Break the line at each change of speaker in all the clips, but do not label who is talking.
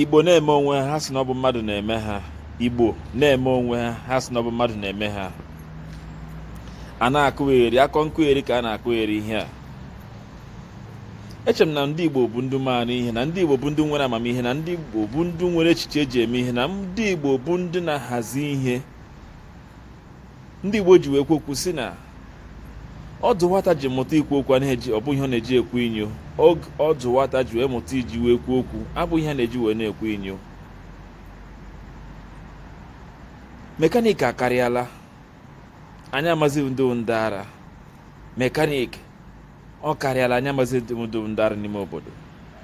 igbo na-eme onwe ha sị na ọ bụ mmadụ na-eme ha igbo na-eme onwe ha ha sị na ọ bụ mmadụ na-eme ha a na-akụgheri akọ nkụgheri ka a na-akụgheri ihe a eche m na ndị igbo bụ ndị maara ihe na ndị igbo bụ ndị nwere amamihe na ndị igbo bụ ndị nwere echiche eji eme ihe na ndị igbo bụ ndị na-ahazi ihe ndị Igbo ji wee kwuo okwu sị na ọdụ nwata ji mụta ikwu okwu anaghị eji ọ bụghị ihe ọ na-eji ekwu inyo ọdụ nwata ji wee mụta iji wee kwuo okwu abụghị ihe a na-eji wee na-ekwu inyo mekaniki akarịala anyị amazighị ndị ndị ara mekaniki ọ karịala anyị amazighị ndị bụ ndị ara n'ime obodo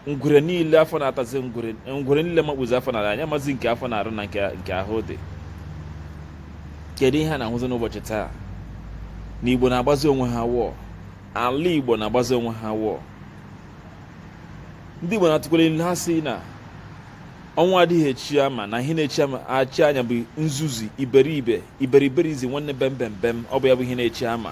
ngwere niile afọ na-atazi ngwere ngwere niile makpuzi afọ na anyị amazighị nke afọ na-arụ na nke ahụ dị kedu ihe a na-ahụzi n'ụbọchị taa na igbo na-agbazi onwe ha wọọ ala igbo na-agbazi onwe ha wọọ ndị igbo na-atụkwa n'ilu ha sị na ọnwụ adịghị echi ama na ihe na-echi ama achị anya bụ nzuzu iberibe iberiberism nwanne bem bem bem ọ bụ ya bụ ihe na-echi ama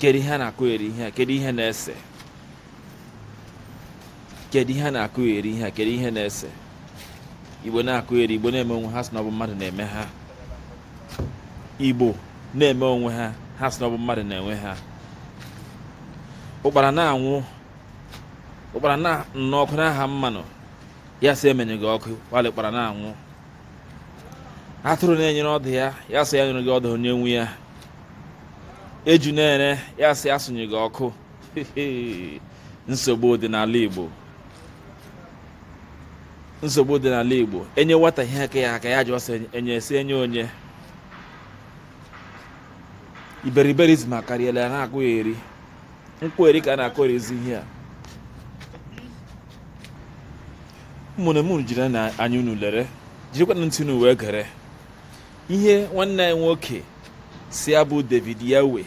kedu ihe a na-akụgheri ihe a kedu ihe na-ese kedu ihe a na-akụgheri ihe a kedu ihe na-ese igbo na-akụgheri igbo na-eme onwe ha sị na ọ bụ mmadụ na-eme ha igbo na-eme onwe ha ha sị na ọ bụ mmadụ na-eme ha ụkpara na-anwụ ụkpara nọ n'ọkụ na-aha mmanụ ya sị ya menyụga ọkụ while ụkpara na-anwụ atụrụ na-enyere ọdụ ya ya sị ya nyerega ọdụ onye nwe ya eju na-ere ya sị ya sụnyụga ọkụ nsogbu dị n'ala Igbo nsogbu dị n'ala Igbo e nye nwata ihe ka ya aka ya jụọ sị enye esi enye onye iberiberism akarịala ya na-akụgheri nkụgheri ka a na-akụgherizi ihe a ụmụnne m jirinụ anya unu lere jirikwanụ ntị unu wee gere ihe nwanne anyị nwoke sị ya bụ David Yawe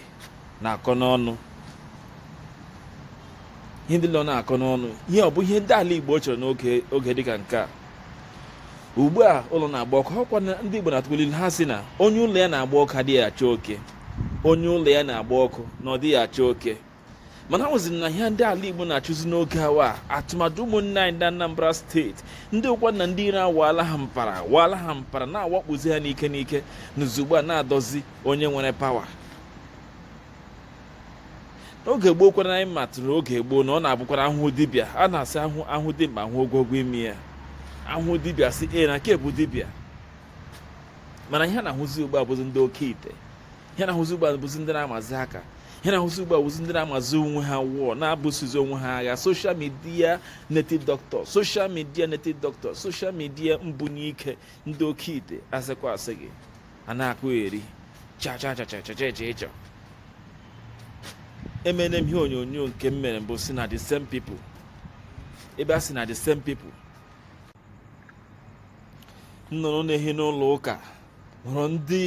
na-akọ n'ọnụ ihe ndị nọ na-akọ n'ọnụ ihe ọ bụ ihe ndị ala Igbo chọrọ n'oge dịka nke a ugbu a ụlọ na-agba ọkụ ọkwa ndị Igbo na-atụkwa n'ilu ha sị na onye ụlọ ya na-agba ọkụ adịghị achụ oke onye ụlọ ya na-agba ọkụ na ọ dịghị achụ oke mana ahụzi m na ihe ndị ala igbo na-achụzi n'oge a wụ atụmatụ ụmụnne anyị ndị anambra steeti ndị ụkwa na ndị ire awaala ha mpara waala ha mpara na-awakpozi ha n'ike n'ike n'uzugbo a na-adọzi onye nwere pawa n'oge gboo kwara anyị matụrụ oge gboo na ọ na-abụkwara a hụ dibịa a na-asị a hụ dimkpa a hụ ogologo imi ya a hụ dibịa sị ee na nke a bụ dibịa mana ihe a na-ahụzi ugbu a bụzi ndị oke ite ihe a na-ahụzi ugbu a bụzi ndị na-amazi aka ihe na-ahụzi ugbu a wụzi ndị na-amazi onwe ha wụọ na-ebusozi onwe ha agha social media native doctor social media native doctor social media mbunye ike ndị oke ite asịkwa asị gị a na-akọgheri chachachachachachacha emene m ihe onyonyo nke m mere mbụ sị na the same people ebe a sị na the same people nnụnụ na-ehi n'ụlọ ụka hụrụ ndị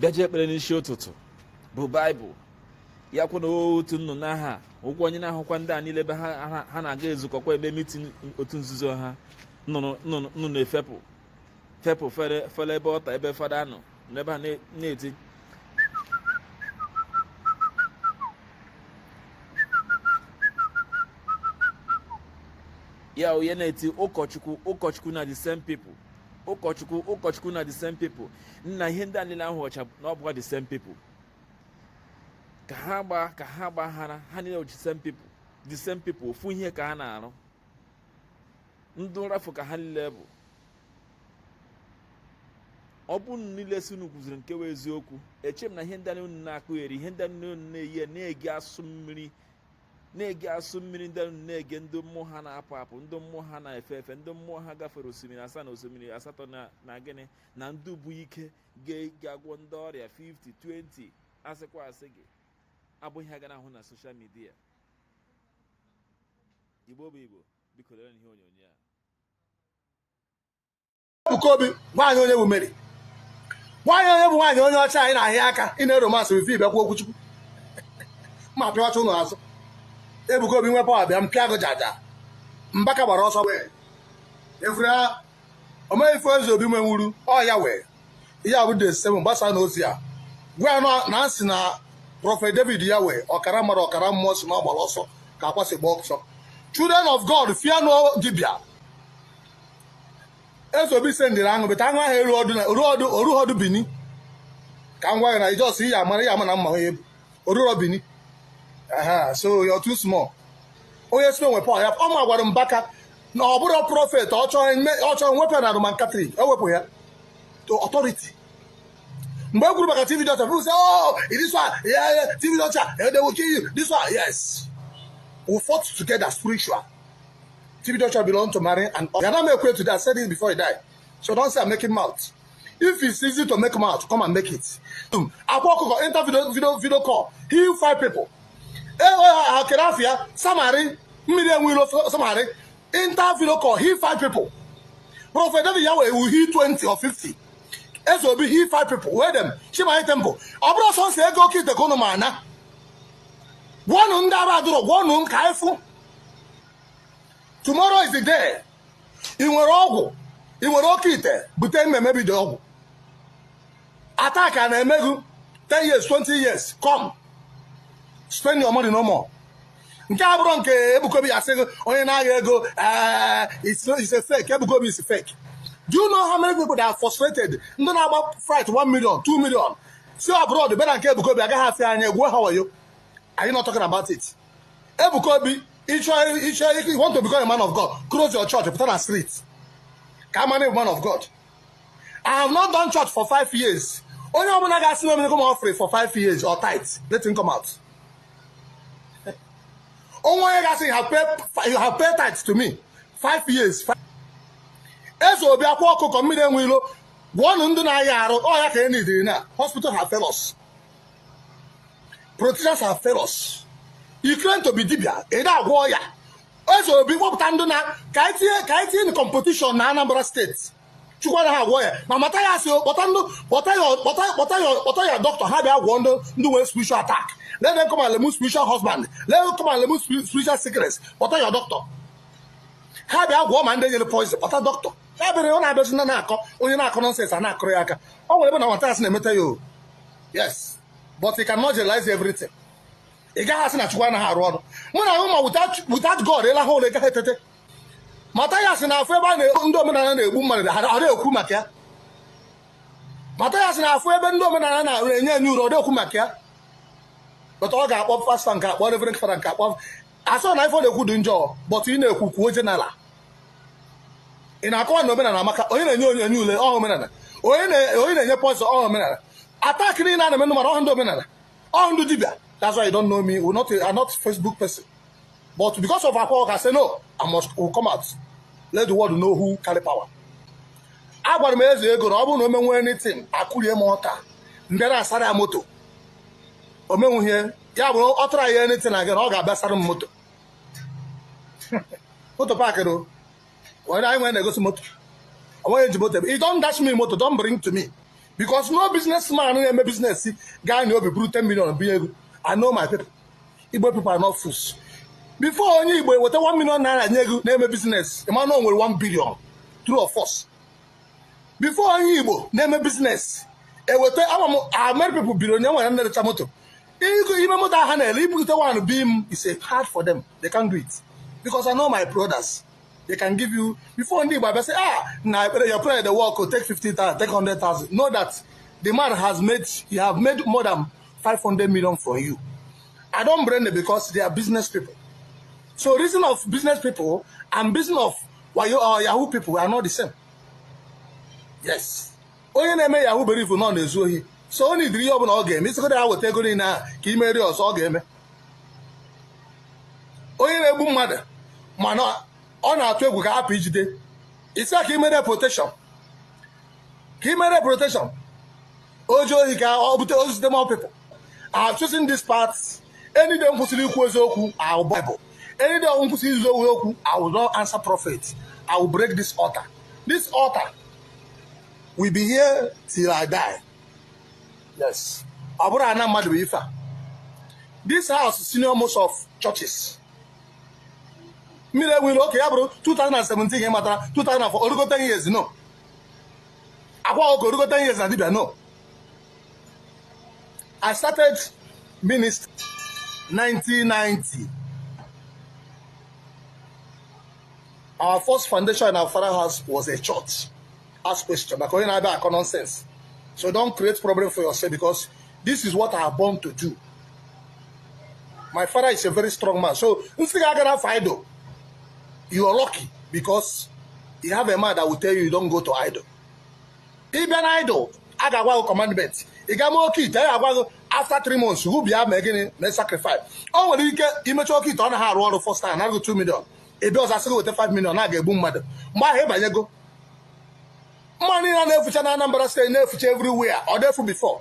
bịaji ekpere n'isi ụtụtụ bu baịbụl ya kwụ na otu nnụnụ ahụ wụkwa onye na-ahụkwa ndị a niile ebe ha na-aga ezukọkwa ebe mitin otu nzuzo ha nnụnụ efepụ fepụ fere ebe altar ebe fada nọ n'ebe ha na-eti ya onye na-eti ụkọchukwu ụkọchukwu na the same people ụkọchukwu ụkọchukwu na the same people nna ihe ndị a niile ahụchaa na ọ bụkwa the same people ka ha gba ka ha gbaghara ha niile the same people the same people ofu ihe ka ha na-arụ ndị nrafu ka ha niile bụ ọ bụrụ unu niile sị unu kwuziri nke wụ eziokwu eche m na ihe ndị unu na-akọgheri ihe ndị unu na-eyi na-egi asụ mmiri na-ege asụ mmiri ndị unu na-ege ndị mmụọ ha na-apụ apụ ndị mmụọ ha na-efe efe ndị mmụọ ha gafere osimiri asaa na osimiri asatọ na gịnị na ndị bu ike ga-agwọ ndị ọrịa 50 20 asịkwa asị gị abụghị ihe a ga na-ahụ na social media igbo bụ igbo biko lere ihe onyonyo a Ebuka
Obi nwaanyị onye bụ Mary nwaanyị onye bụ nwaanyị onye ọcha anyị na-ahịa aka ị na-eromansị wife ị bịakwa okwuchukwu ma pịa ọcha ụlọ azụ Ebuka Obi nwe power bịa m pịa gị jaja Mbaka gbara ọsọ wee efere omeghị ife Ezeobi nwe nwuru ọ ya wee ihe abụ de seven gbasa na ozi a gwa ya na nsị na prophet David ya wụ ọkara mmadụ ọkara mmụọ sị na ọ gbara ọsọ ka akwasị gba ọsọ children of god fear no dibia Ezeobi sendịrị aṅụ bete aṅụ ahụ eru ọdụ na oru ọdụ oru ọdụ bini ka m gwa gị na ijọs ihe amara ya ama na mma onye bụ oruro bini aha so you're too small onye sime nwe pọl ya ọ ma gwara Mbaka na ọ bụrụ prophet ọ chọrọ ime- ọ chọrọ iwepụ ya na Roman Catholic ewepụ ya to authority mgbe e kwuru maka TB Joshua people say oh this one yeah, yeah, TB Joshua eh, they will kill you this one yes we fought together spiritual TB Joshua belong to Mary and all. Yana make way today. I said this before he died. So don't say I'm making mouth. If it's easy to make mouth, come and make it. Um, I walk over, enter video, video, video call. Heal five people. Eh, eh, eh, Kerafia, Samari, Miriam Willow, Samari. Enter video call. Heal five people. Prophet David Yahweh will heal 20 or 50. Eso obi heal five people. Where them? Shema temple. Ọbụrụ sọ nsị ego oke ite ka ụnụ ma ana. Gwọnụ ndị ara adụrọ, gwọnụ m ka anyị fụ. tomorrow is the day ị nwere ọgwụ ị nwere oke ite bute m emebido ọgwụ attack a na-eme gị 10 years 20 years come spend your money no more nke a bụrụ nke Ebuka Obi a sị gị onye na-agha ego ee eh, is a fake Ebuka Obi is fake do you know how many people that are frustrated ndị na-agba flight 1 million 2 million si abroad bịa na nke Ebuka Obi agaghị asị anya egwuo ha wayo are you not talking about it Ebuka Obi ịchọ ịchọ if you want to become a man of God close your church pụta na street ka a mara man of God I have not done church for five years onye ọbụla ga-asị na omenye come offering for five years or tithe let him come out o nwe onye ga-asị you have paid you have paid tithe to me five years eze obi akwa ọkụkọ mmiri enwe ilo gwọnụ ndị na-aya arụ ọ ya ka e nidiri na hospital have failed us politicians have failed us you claim to be dibia ị na-agwọ ọya eze obi kpọpụta ndị na ka anyị tinye ka anyị tinye na competition na anambra state chukwu anaghị agwọ ọya ma Mathias kpọta ndị kpọta ya kpọta kpọta ya kpọta ya dọkịta ha bịa gwọọ ndị ndị nwere spiritual attack let them come and remove spiritual husband let them come and remove spirit- spiritual sickness kpọta ya dọkịta ha bịa gwọọ ma ndị e nyere poison kpọta dọkịta ya bịara ọ na-abịazi na na-akọ onye na-akọ nonsense a na-akụrụ ya aka ọ nwere ebe nwa Mathias na-emeta ya o yes but he cannot realize everything ị gaghị asị na chukwu anaghị arụ ọrụ mụ na ahụ ma without god ị lahụ ụla ị gaghị etete Mathias na-afụ ebe a na ndị omenala na-egbu mmadụ ha na-ekwu maka ya Mathias na-afụ ebe ndị omenala na-enye enye uru ọ na-ekwu maka ya but ọ ga-akpọ pastor nke a kpọọ reverend father nke a kpọọ asọ na ife ọ na-ekwu dị njọ but ị na-ekwu kwuo general ị na-akọwa na omenala amaka onye na-enye onye enye ule ọ họ omenala onye na- onye na-enye poison ọ họ omenala attack niile a na-eme ndị mmadụ ọ họ ndị omenala ọ họ ndị dibịa that's why you don't know me we're not, I'm not Facebook person but because of Akwa Ọkụkọ I say no I must will come out let the world know who carry power agwara m eze ego na ọ bụrụ na o menwe anything akụrie m ọka m bịa saara ya moto o menwuhie ya bụrụ ọ tụrụ ya anything again ọ ga-abịa saara m moto moto pakịrị o onye anyị nwere na-egosi moto ọ nweghị ihe e ji moto eme i don dash me moto don bring to me because no business man na-eme business ga-enwe obi buru 10 million bunye gị i know my people igbo people are not fools before onye igbo eweta 1 million naira nye gị na-eme business ị ma na o nwere 1 billion true or false before onye igbo na-eme business eweta ama m many people billionaire na-erecha moto even moto ahụ ha na-ele ibute one bi m it's hard for them they can't do it because I know my brothers they can give you before ndị igbo abịa sị ah na ekpere your prayer dey work o take 50,000 take 100,000 know that the man has made he have made more than 500 million for you I don't blame them because they are business people so reason of business people and business of wayo or yahoo people are not the same yes onye na-eme yahoo believe na ọ na-ezu ohi so ọ na-ediri ihe ọbụla ọ ga-eme ị sịgodu ya weta ego niile ahụ ka i meere ya ọzọ ọ ga-eme onye na-egbu mmadụ mana ọ na-atụ egwu ka a hapụ ijide ị sị ka i meere protection ka i meere protection oji ohi ka ọ bute ozute more people I have chosen this path any day m kwụsịrị ikwu eziokwu our bible any day m kwụsịrị ikwu eziokwu i will not answer prophet i will break this altar this altar will be here till i die yes ọ bụrọ ana mmadụ bụ ife a this house senior most of churches mmiri enwere oke ya bụrụ 2017 ka ị matara 2004 o rugo 10 years no akwa ọkụ rugo 10 years na dibia no I started ministry 1990 our first foundation in our father house was a church ask question maka onye na-abịa akọ nonsense so don't create problem for yourself because this is what I have born to do my father is a very strong man so nsị ga-aga na you are lucky because you have a man that will tell you you don't go to idol ị bịa na idol a ga-agwa gị commandment ị gaa mee oke ite ya agwa gị after three months ị bịa mee gịnị mee sacrifice o nwere ike i mecha oke ite ọ naghị arụ ọrụ first time a naa gị 2 million ị bịa ọzọ a sị gị weta 5 million na a ga-egbu mmadụ mgbe ahụ ị banyego mmadụ a na-efucha na Anambra steeti na-efucha everywhere ọ na-efu before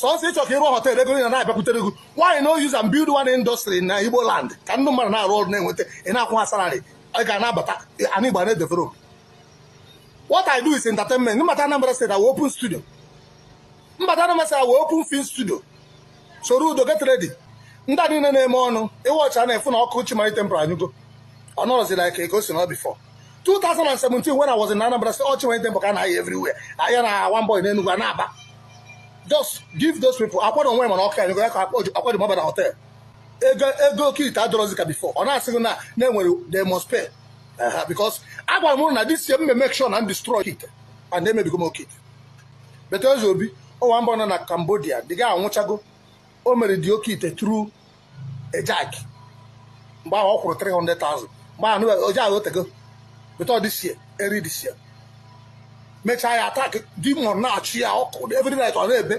sọsọ ị chọ ka ị rụọ hotel ego a na-abịakwutere gị why no use and build one industry na Igbo land ka ndị mmadụ na-arụ ọrụ na-enweta ị na-akwụ ha salary ị ga na-abata ana Igbo na-edevelop what I do is entertainment m bata Anambra State I will open studio m bata Anambra State I will open film studio Soludo get ready ndị a niile na-eme ọnụ ị watch-a na-afụ na ọkụ Chi Marine Temple anyụgo ọ nọrọzi like ka o si anọ before 2017 when I was in Anambra State, ọ bụ Chi Marine Temple ka a na-ahụ everywhere. Ya na one boy in Enugu and Aba. Just give those people. I want to wear my okay. I want to mobile hotel. Ego oke ite adịrọzi ka before. Ọ na-asịghị na na-enwere they must pay. Uh-huh, because agwara m na this year m make sure na m destroy it and they may become okay. But Obi, one boy nọ na Cambodia, the guy anwụchago, o mere the oke ite through Ejike mgbe ahụ ọ kwụrụ 300,000 mgbe ahụ o je ahụ o teego but ọ this year early this year mechaa ya attack demon na-acha ya ọkụ every night ọ na-ebe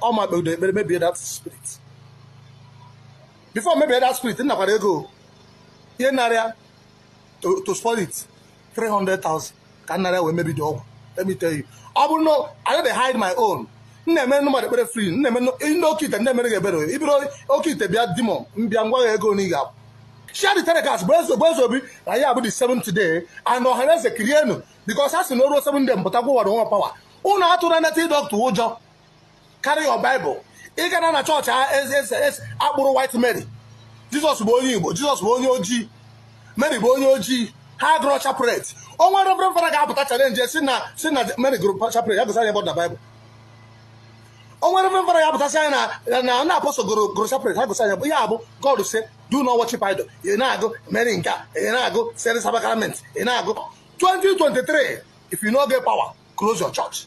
ọ mụ kpere ekpere mebie that spirit before m mebie that spirit m nakwara ego ihe narịa to spoil it 300,000 ka m nara wee mebie the ọgwụ let me tell you ọ bụrụ na I no dey hide my own m na-emere ndị mmadụ ekpere free m na-eme ndị oke ite na-emere gị ebere i buru oke ite bịa di m mbịa m gwa gị ego na ị ga-akwụ share the telecast bụ eze bụ eze obi na ya bụ the seventh day and ọha na eze kirienụ because a sị na o ruo seven day m pụta gwụwara onwe power ụnụ atụrụ native doctor ụjọ carry your bible ị gara na chọọchị a kpụrụ white mary jizọs bụ onye igbo jizọs bụ onye ojii mary bụ onye ojii ha gụrụ chaplet o nwee reverend fada ga-apụta challenge sị na sị na mary gụrụ chaplet ya gosi anyị ebe ọ dị na baịbụl o nwee reverend fada ga-apụta sị anyị na na na apostle gụrụ gụrụ chaplet ha gosi anyị ya bụ ya abụ god say do not worship idol ị na-agọ mary nke a ị na-agọ blessed sacrament ị na-agọ 2023 if you no get power close your church